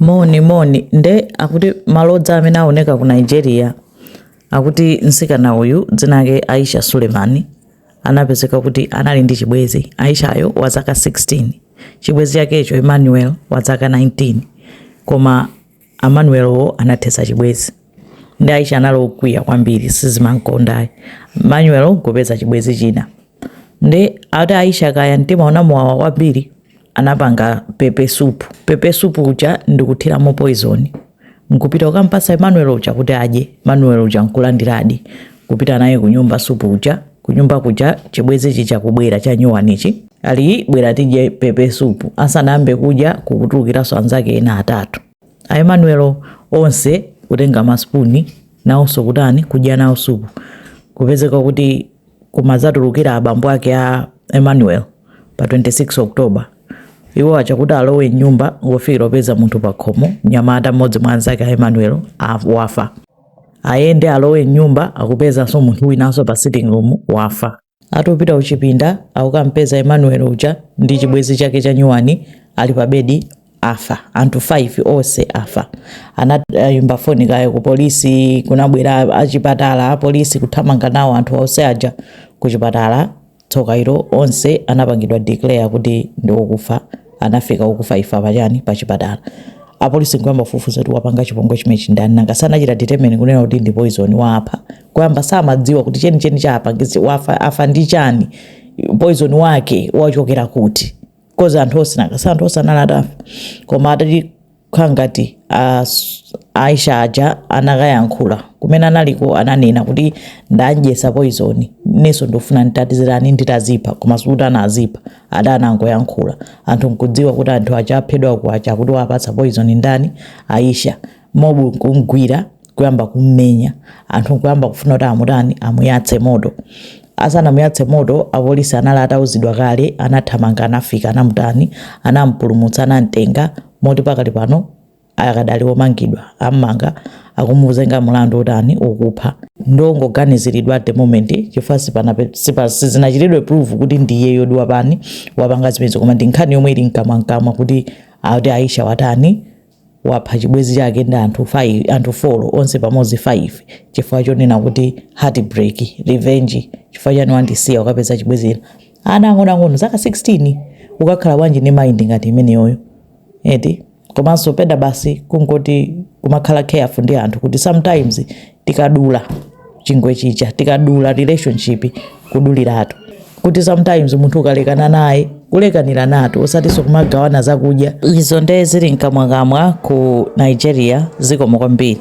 moni moni nde akuti malodza amene aoneka ku nigeria akuti msikana uyu dzina lake aisha sulemani anapezeka kuti anali ndi chibwezi aishayo wa zaka 16 chibwezi chakecho emmanuel wa zaka 19 koma emmanuelwo anathetsa chibwezi ndi aisha anali okwiya kwambiri sizimankondayi emmanuel nkupeza chibwezi china nde ati aisha kaya mtima unamuwawa kwambiri anapanga pepe supu pepe supu uja ndikuthiramo poison nkupita kukampatsa emmanuel uja kuti adye emmanuel uja nkulandiradi kupita naye kunyumba supu uja kunyumba kuja chibwezi chija kubwera chanyuwanichi ali bwera tidye pepe supu asanayambe kudya kukutulukiranso anzake ena atatu a emmanuel onse kutenga masipuni nawonso kutani kudya nawo supu kupezeka kuti kumadzatulukira abambo ake a Emmanuel pa 26 October. Iwo achakuti alowe m'nyumba ngofikira akupeza munthu pakhomo, mnyamata mmodzi mwa anzake a Emmanuel wafa. Ayende alowe m'nyumba akupezanso munthu winanso pa sitting room wafa. Atopita kuchipinda akukampeza Emmanuel uja ndi chibwezi chake cha nyuwani ali pa bedi afa anthu 5 ose afa anayimba foni kaya ku polisi kunabwera achipatala apolisi kuthamanga nawo anthu ose aja ku chipatala tsoka ilo onse anapangidwa declare kuti ndi okufa anafika okufa ifa pachani pa chipatala apolisi nkuyamba kufufuza kuti wapanga chipongwe chimechi ndani nanga sanachita determine kunena kuti ndi poison wapha kuyamba samadziwa kuti chenicheni chapangitsa afa afa ndi chani poison wake wachokera kuti kozi anthu onse nanga anthu onse anali atafa koma atati kukhala ngati as- aisha aja anakayankhula kumene analiko ananena kuti ndadyesa poizoni nenso ndofuna nditatizirani nditazipha koma sikuti anazipha ada anangoyankhula anthu nkudziwa kuti anthu aja aphedwa kuja kuti wapatsa poizoni ndani aisha mobu kumgwira kuyamba kummenya anthu kuyamba kufuna kuti amutani amuyatse moto asanamuyatse moto apolisi anali atauzidwa kale anathamanga anafika anamutani anampulumutsa anamtenga moti pakali pano akadali omangidwa ammanga akumuzenga mulandu wotani wokupha ndongoganiziridwa at the moment chifukwa sipana sizinachitidwe prove kuti ndiyeyodi watani wapanga zimenezo koma ndi nkhani yomwe ili mkamwamkamwa kuti akuti aisha watani wapha chibwezi chake ndi anthu 5 anthu 4 onse pamodzi 5 chifukwa chonena kuti heartbreak revenge chifukwa chani wandisiya ukapeza chibwezi china ana ang'onoang'ono zaka 16 ukakhala bwanji ndi mind ngati imeneyoyo eti komanso pena basi kungoti kumakhala careful ndi anthu kuti sometimes tikadula chingwe chija tikadula relationship kuduliratu kuti sometimes munthu ukalekana naye kulekaniranatu osatinso kumagawana zakudya izo ndee zili mkamwakamwa ku nigeria zikomo kwambiri